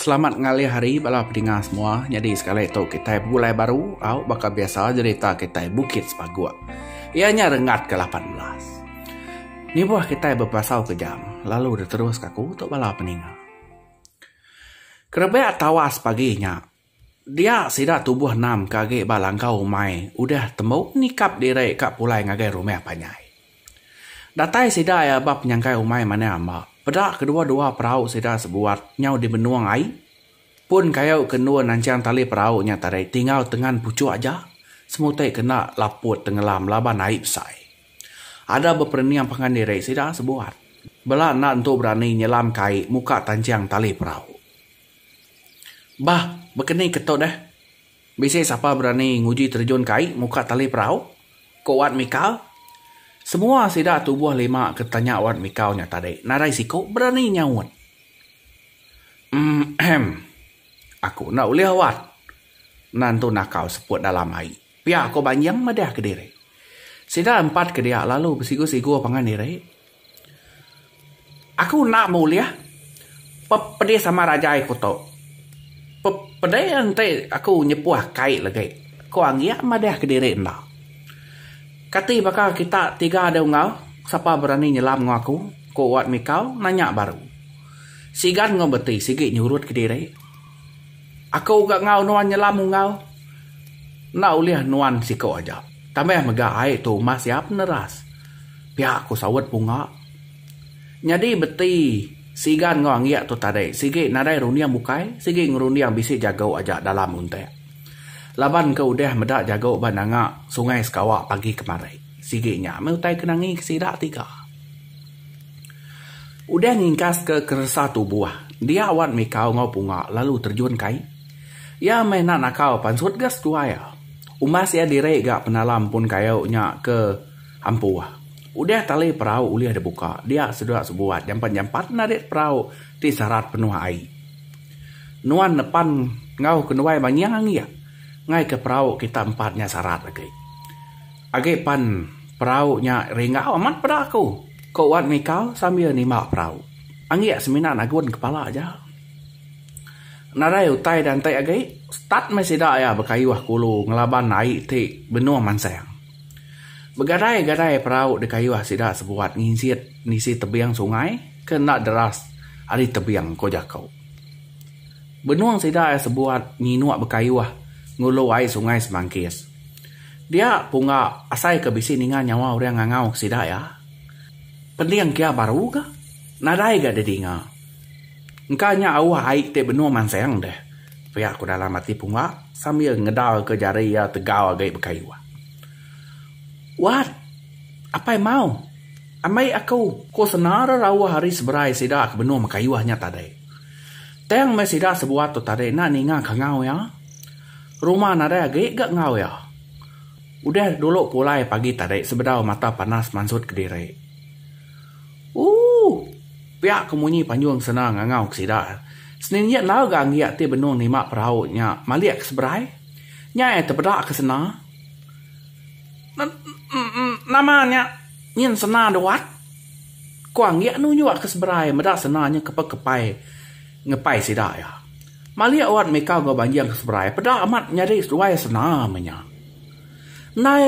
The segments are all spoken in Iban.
Selamat ngalih hari bala pedingar semua. Nyadi sekali tu kitai begulai baru au baka biasa jerita kitai Bukit Sepagok. Iya nya renggat ke lapan belas. Nibuh kitai bepasau ke jam lalu diteruska ku tu bala peninga. Kerebak tawas pagi nya. Dia sida tubuh enam ke agi ba langkau umai udah tembu nikap diri ka pulai ngagai rumah panjai. Datai sida iya ba penyangkai umai manah amba, peda kedua-dua perau sida sebuat nyau dibenung ai pun kayu ke endur nancang tali perau nya tadi tingau tengan puchuk aja semutai kena laput tengelam laban ai besai. Ada beperening pangan diri sida sebuat bela enda entu berani nyelam kai muka tancang tali perau. Bah, bekeni ke tu deh. Bisi sapa berani nguji terjun ke ai muka tali perau? ku Wat Mikau. Semua sida tubuh lima ke tanya Wat Mikau nya tadi nadai siku berani nyaut. Emmm. Aku enda ulih, Wat. Nan tu nakal seput dalam ai. Pia ko Banjing madah kediri. Sida empat ke dia lalu besigu-sigu pangan diri. Aku enda beulih pepedih sama rajai ku tu. Pepedih enti aku nyepuh kai legi, ko Anggik madah kediri enda. Kati baka kita tiga dau enggau, sapa berani nyelam enggau aku, ko Wat Mikau nanya baru. Sigan enggau beti sigi nyurut kediri. Aku ga enggau nuan nyelam enggau. Enda ulih nuan siku aja. Tambah mega ai tu mas iya peneras. Pia aku saut bunga. Nyadi beti Sigan enggau Anggik tu tadi sigi nadai runding bukai sigi ngerunding bisi jagu aja dalam untik. Laban ke udah meda jagu ba nanga Sungai Sekawa pagi kemari. Sigi nya meh utai ke nangi ke sida ti ga udah ngingkas ke keresa tubuh dia wan mikau enggau punga lalu terjun ke ai. Ia meh enda nakau pansut ga setua ia. Umbas ia diri ga penala empun kayu nya ke ampuh. Udah tali perau ulih dibuka dia seduak sebuat jampat-jampat narit perau ti sarat penuh ai. Nuan nepan enggau kenuai manyang ia ngaika perau kita empat nya sarat agi. Agi pan perau nya ringgau amat peda aku, ku Wan Mika sambil nimba perau. Anggik semina nagun kepala aja. Nadai utai diantik agi, start meh sida iya bekayuh kulu ngelaban ai ti benung mansang. Begadai-gadai perau dikayuh sida sebuat nginsit nisi tebing sungai ke enda deras ari tebing, ku jaku. Benung sida iya sebuat nyinuk bekayuh ngulu ai Sungai Semangkis. Dia pungga asai ke bisi ninga nyawa orang ngangau sida iya. Penting kia baru ga. Nadai ga didinga. Engka nya auh ai ti benung mansang deh, pia ku dalam ati pungga sambil ngedarka jari iya tegau agi bekayuh. Wat! Apai mau! Ambi aku! Ku senara rauh ari seberai sida ke benung mekayuh nya tadi. Tang meh sida sebuah tu tadi enda ninga kangau iya. Rumah nadai agi ga enggau iya. Udah dulu pulai pagi tadi sebedau mata panas mansut ke diri. Ooh! Pia ke munyi panjung sena ngangau ke sida. Seninjit enggau ga enggi ati benung nima perau nya malik ke seberai. Nya iya tepeda ke sena. Nama nya nyin sena duat? Ku enggi nunjuk ke seberai meda sena nya kepa kepai ngepai sida iya. Malik wan mika enggau banjing ke seberai peda amat nyadi seduai sena meh nya. Ndai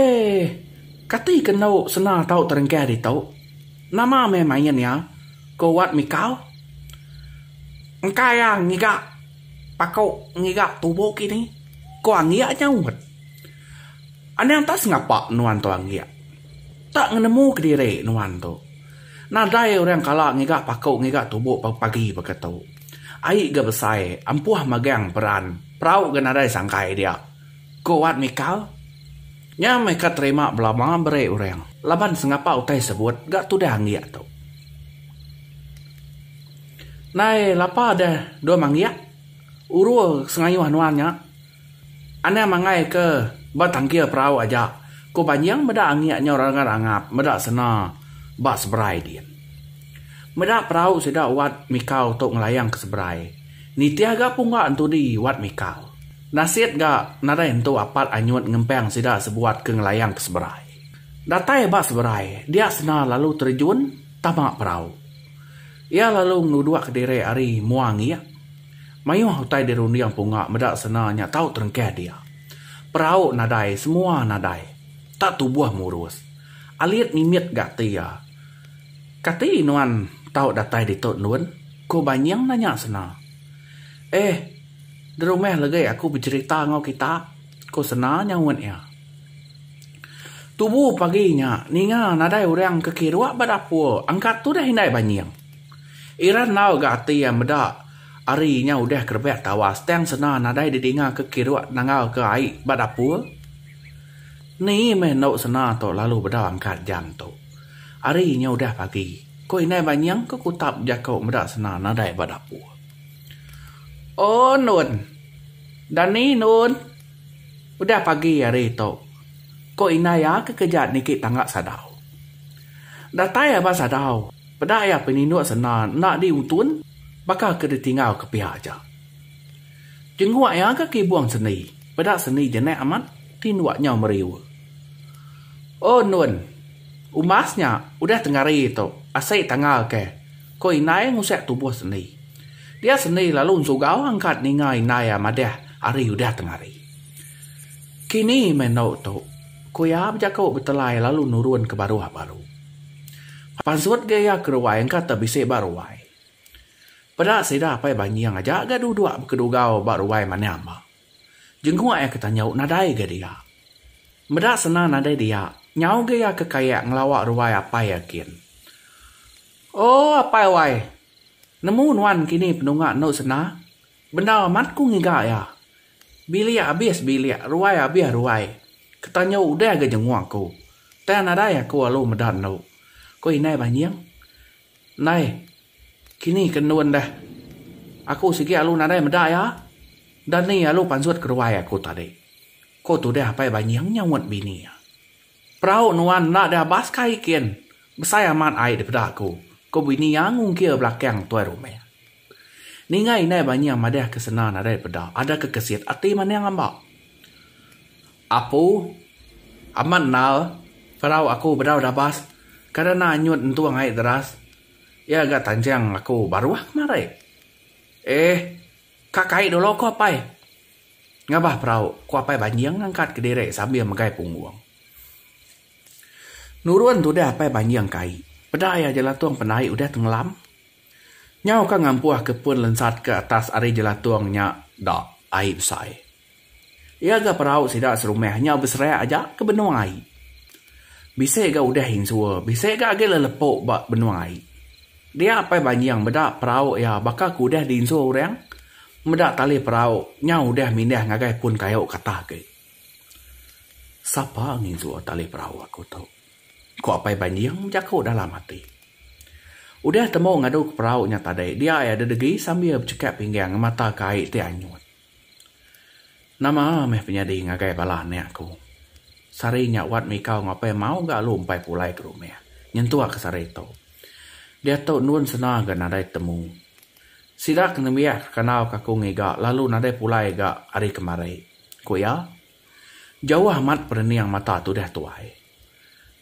kati ke endo sena tau terengkah ditu. Nama meh main iya? ku wan mika. Engka iya ngiga paku ngiga tubuh kini, ku anggik nyaut. Anang tak sengapa nuan tu anggik. Tak ngenemu kediri nuan tu. Nadai orang kala ngiga paku ngiga tubuh pagi baka tu. Ai ga besai empuh magang peran perau ga nadai sangkai dia, ku Wat Mikal. Nya meh ka terima belama beri orang laban sengapa utai sebut ga tudah anggik tu. Ndai lapa deh dua manggik urul sengayuh nuan nya. Anang mangai ke ba tangkil perau aja ku banjing meda angik nyau ranggat angap meda sena ba seberai din. Meda perau sida wat mikau tu ngelayang ke seberai nitih ga pungga entudi wat mikau. Nasit ga nadai entu apat anyut ngempang sida sebuat ke ngelayang ke seberai. Datai ba seberai dia sena lalu terejun tama perau. Iya lalu ngeluduk ke diri ari mua angik. Mayuh utai dirunding punga meda sena nya tau terengkah dia. Perau nadai semua nadai. Tak tubuh murus. Alit mimit ga ati iya. Kati nuan tau datai ditu endun? Ku Banying nanya Sena. Eh, derumah legi aku becherita enggau kita, ku Sena nyaut iya. Tubu pagi nya ninga nadai orang ke kirup ba dapur angkat tudah indai Banying. Ira enggau ga ati iya meda ari inya udah ke rebak tawas tang sena nadai didinga ke kiruk nanggau ke ai ba dapur. Ni meh endo sena tu lalu beda angkat jam tu. Ari inya udah pagi, ko indai banying ke kutap jako meda sena nadai ba dapur. Oh nun. Dani nun. Udah pagi ari tu. Ko indai iya ke keja niki tangga sadau. Datai aba sadau. Peda iya peninduk sena enda di utun baka ke ditinggal ke piak aja. Jengguk iya ga kibung sendi, peda sendi jenek amat tinduk nyau meriu. Oh nun, umbas nya udah tengari tu asik tanggal ke, ko indai ngusik tubuh sendi. Dia sendi lalu ensugau angkat ninga indai iya madah ari udah tengari. Kini meh endo tu, ko iya bejaku betelai lalu nurun ke baruh baru. Pansut ga iya ke ruai engka te bisi ba ruai. Peda sida apai banying aja ga duduk bekedugau ba ruai manah amba. Jenguk iya ke tanyu nadai ga dia. Meda sena nadai dia, nyau ga iya ke kayak ngelawa ruai apai iya kin. Oh apai wai. Nemu nuan kini penunga enu sena? Bendar amat ku ngiga iya. Bilik abis bilik, ruai abis ruai. Ketanyu udah ga jenguk aku. Tang nadai aku alu meda enu, ku indai Banying. Ndai, kini ke ndun dah. Aku sigi alu nadai meda iya. Dani alu pansut ke ruai aku tadi, ku tudah Apai Banying nyaut bini iya. Perau nuan enda deh abas kai kin. Besai amat ai dipeda aku, ku bini iya ngungkir belakang tuai rumah. Ninga indai banyah madah ke sena nadai peda ada ke kesit ati manang amba. Apu, amat endal, parau aku bedau dabas kada enda anyut entung ai deras iya ga tanjang aku baruh kemari. Eh ka kai dulu ku apai ngabah parau ku apai banjing ngangkat ke diri sambil megai punggung. Nurun tudah apai banjing kai peda iya jelatung pandai udah tengelam. Nyau ka ngampuh ke pun lensat ke atas ari jelatung nya da ai besai. Iya ga perau sida serumah nyau beserak aja ke benung ai. Bisi ga udah insur, bisi ga agi lelepu ba benung ai. Dia Apai Banjing meda perau iya baka ke udah diinsur orang, meda tali perau nyau udah mindah ngagai pun kayu ke atas agi. Sapa nginsur tali perau aku tu? Ku Apai Banjing bejaku dalam ati. Udah temu ngadu ke perau nya tadi dia ai ada degi sambil bechekap pinggang ngemataka ai ti anyut. Nama meh penyadi ngagai bala anak aku. Sari nya wat mikau enggau Apai Mau ga alu empai pulai ke rumah nyentuk ke sari tu. Diatu endun sena ga nadai temu. Sida ke nembiak ke kandau ke aku ngiga lalu nadai pulai ga ari kemari, ku iya. Jauh amat perening mata tudah tuai.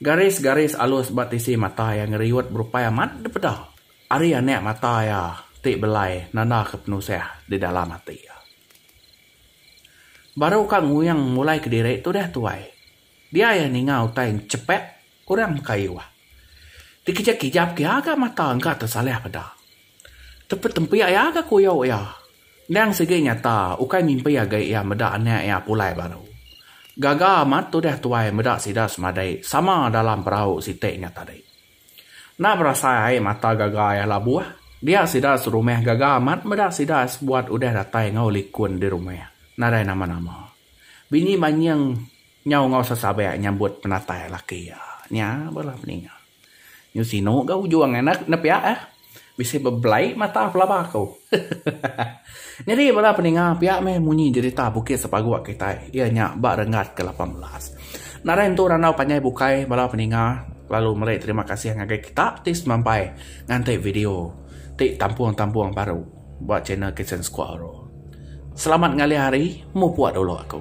Garis-garis alus ba tisi mata iya ngeriut berupai amat dipeda ari anak mata iya ti belai nandaka penusah di dalam ati iya. Baru ka nguyang mulai kediri tudah tuai, dia iya ninga utai enchepak orang mekayuh. Dikejap-kejap ke iya ga mata engka tesalih peda. Tepetempi iya ga kuyau iya. Endang sigi nyata ukai mimpi agi iya meda anak iya pulai baru. Gaga amat tudah tuai meda sida semadi sama dalam perau siti nya tadi. Enda berasai ai mata gaga iya labuh dia sida serumah gaga amat meda sida sebuat udah datai enggau likun di rumah nadai nama-nama. Bini Manying nyau enggau sesabak nyambut penatai laki iya nya bala peninga. Nyau sinu ga ujung anak enda pia eh. Bisi bebelai mata pelaba aku. Nyadi bala peninga pia meh munyi jerita Bukit Sepagok kitai iya nya ba renggat ke lapan belas. Nadai entu randau panjai bukai bala peninga lalu meri terima kasih ngagai kita ti semampai nganti video ti tampung-tampung baru ba channel Kitchen Squad. Selamat ngalih hari mupuk dulu aku.